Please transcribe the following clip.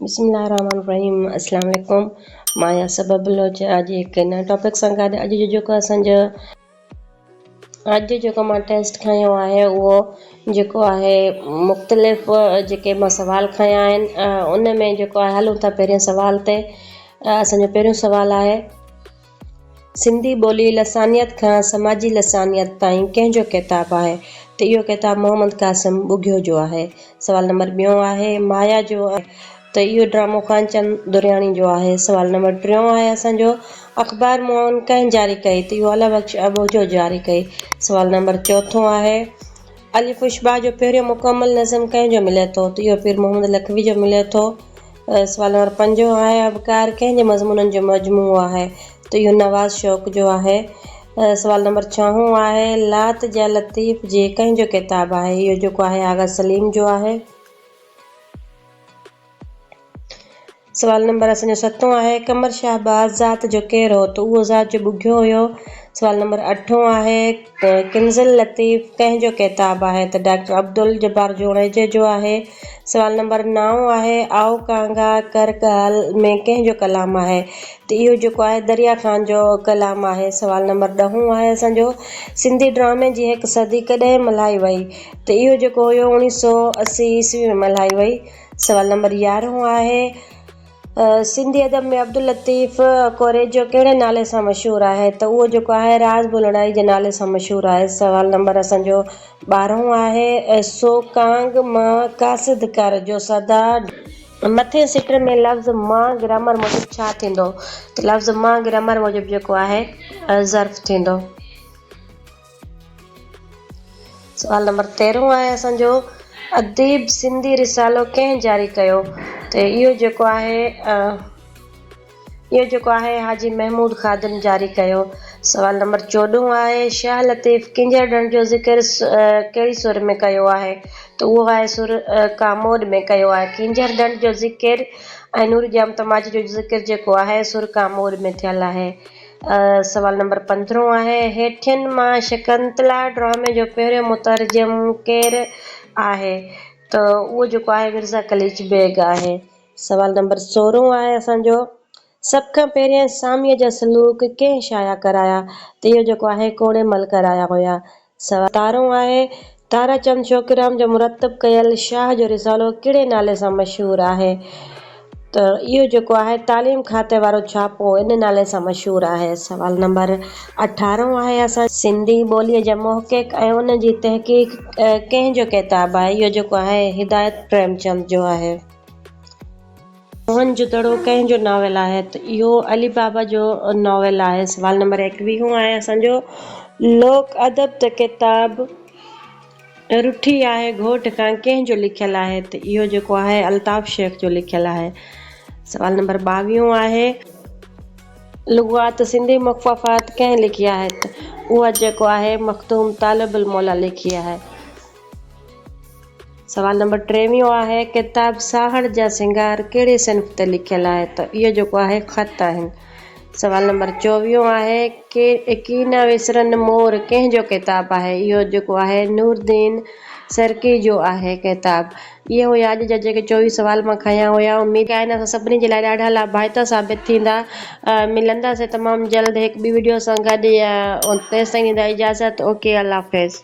بسم الله الرحمن الرحيم السلام عليڪم مان يا سبب بلوچ اڄ هڪ نئين ٽاپڪ سان گڏ اڄ جو جيڪو اسان جو اڄ جو جيڪو مان ٽيسٽ کايو آهي اهو جيڪو آهي مختلف جيڪي مان سوال کايا آهن ان ۾ جيڪو آهي هلون ٿا پهرين سوال تي اسان جو پهريون سوال آهي سنڌي ٻولي لسانيات کان سماجي لسانيات تائين ڪنهن جو ڪتاب آهي ته اهو ڪتاب محمد قاسم ٻگهيو جو آهي. سوال نمبر ٻيون آهي مايا جو آهي ته اهو ڊرامو خانچند درياڻي جو آهي. سوال نمبر ٽيون آهي اسان جو اخبار معاون ڪنهن جاري ڪئي ته اهو الله بخش اٻوجهو جاري ڪئي. سوال نمبر چوٿون آهي الف اشباع جو پهريون مڪمل نظم ڪنهن جو ملي ٿو ته اهو پير محمد لکوي جو ملي ٿو. سوال نمبر پنجون آهي آبڪار ڪنهن جي مضمونن جو مجموعو آهي ته اهو نواز شوق جو آهي. سوال نمبر ڇهون آهي لات جا لطيف جي ڪنهن جو ڪتاب آهي اهو جيڪو آهي آغا سليم جو آهي. سوال نمبر اسان جو ستون آهي قمر شهباز ذات جو ڪير هو ته اهو ذات جو ٻگهيو هيو. سوال نمبر اٺون آهي. ته ڪنز اللطيف ڪنهن جو ڪتاب آهي ته ڊاڪٽر عبدالجبار جوڻيجي جو آهي. سوال نمبر نائون آهي آئو ڪانگا ڪر ڳالهه ۾ ڪنهن جو ڪلام آهي ته اهو جيڪو آهي دريا خان جو ڪلام آهي. سوال نمبر ڏهون آهي اسان جو سنڌي ڊرامي جي هڪ صدي ڪڏهن ملهائي وئي ته اهو جيڪو هيو اوڻيهه سؤ اسي عيسوي ۾ ملهائي وئي. سوال نمبر يارهون آهي. سنڌي ادب ۾ عبداللطيف ڪوريجو ڪهڙي نالي سان مشهور آهي ته اهو جيڪو آهي راز بولڻائي جي نالي سان مشهور آهي سوال نمبر اسان جو ٻارهون آهي سو ڪانگ مان قاصد ڪر جو سدا مٿين سٽر ۾ لفظ مان گرامر موجب ڇا ٿيندو ته لفظ مان گرامر موجب جيڪو آهي ظرف ٿيندو. سوال نمبر تيرهون آهي اسان جو اديب سنڌي رسالو ڪنهن جاري ڪيو ته اهو جيڪو آهي اهو جيڪو آهي حاجي محمود خادم جاري ڪيو سوال نمبر چوڏهون آهي شاهه لطيف ڪنجهر ڏڻ جو ذڪر ڪهڙي سر ۾ ڪيو آهي ته اهو آهي سر ڪاموڏ ۾ ڪيو آهي ڪنجهر ڏڻ جو ذڪر ۽ نور ڄام تماچي جو ذڪر جيڪو آهي سر ڪاموڏ ۾ ٿيل آهي سوال نمبر پندرهون آهي، هيٺين مان شڪنتلا ڊرامي جو پهريون مترجم ڪير آهي؟ ته اهو جيڪو آهي مرزا قليچ بيگ آهي. سوال نمبر سورهون آهي اسان جو، سڀ کان پهريان ساميء جا سلوڪ ڪنهن شايع ڪرايا؟ ته اهو جيڪو آهي ڪوڙيمل ڪرايا هيا. سواء تارو آهي. تارا چند شوقيرام جو مرتب ڪيل شاهه جو رسالو ڪهڙي نالي سان مشهور آهي؟ ته اهو جيڪو آهي تعليم کاتي وارو ڇاپو ان نالي سان مشهور آهي. سوال نمبر اٺارهون آهي اسان. سنڌي ٻوليء جي محقق ۽ ان جي تحقيق ڪنهن جو ڪتاب آهي؟ اهو جيڪو آهي هدايت پريمچند جو آهي. موهن جودڙو ڪنهن جو ناول آهي؟ ته اهو علي بابا جو ناول آهي. سوال نمبر ايڪويهون آهي اسان جو لوڪ ادب ته ڪتاب رٺي آهي گهوٽ کان ڪنهن جو لکيل آهي؟ ته اهو جيڪو آهي الطاف شيخ جو لکيل آهي. سوال نمبر ٻاويهون آهي. لغات سنڌي مخففات ڪنهن لکي آهي؟ ته اهو جيڪو آهي مخدوم طالب الموليٰ لکي آهي. سوال نمبر ٽيويهون آهي ڪتاب ساهڙ جا سنگار ڪهڙي صنف تي لکيل آهي ته اهو جيڪو آهي خط آهن. سوال نمبر چوويهون آهي ڪي ڪي نه وسرن مور ڪنهن جو ڪتاب آهي اهو جيڪو آهي نوردين سرڪي جو آهي ڪتاب. اهي هيا اڄ جا جيڪي چوويهه سوال مان کنيا هيا، اميد آهي اسان سڀني جي لاء ڏاڍا لاڀائتا ثابت ٿيندا، ملنداسين تمام جلد هڪ ٻي وڊيو سان گڏ، تيستائين ڏيندا اجازت اوڪي الله حافظ.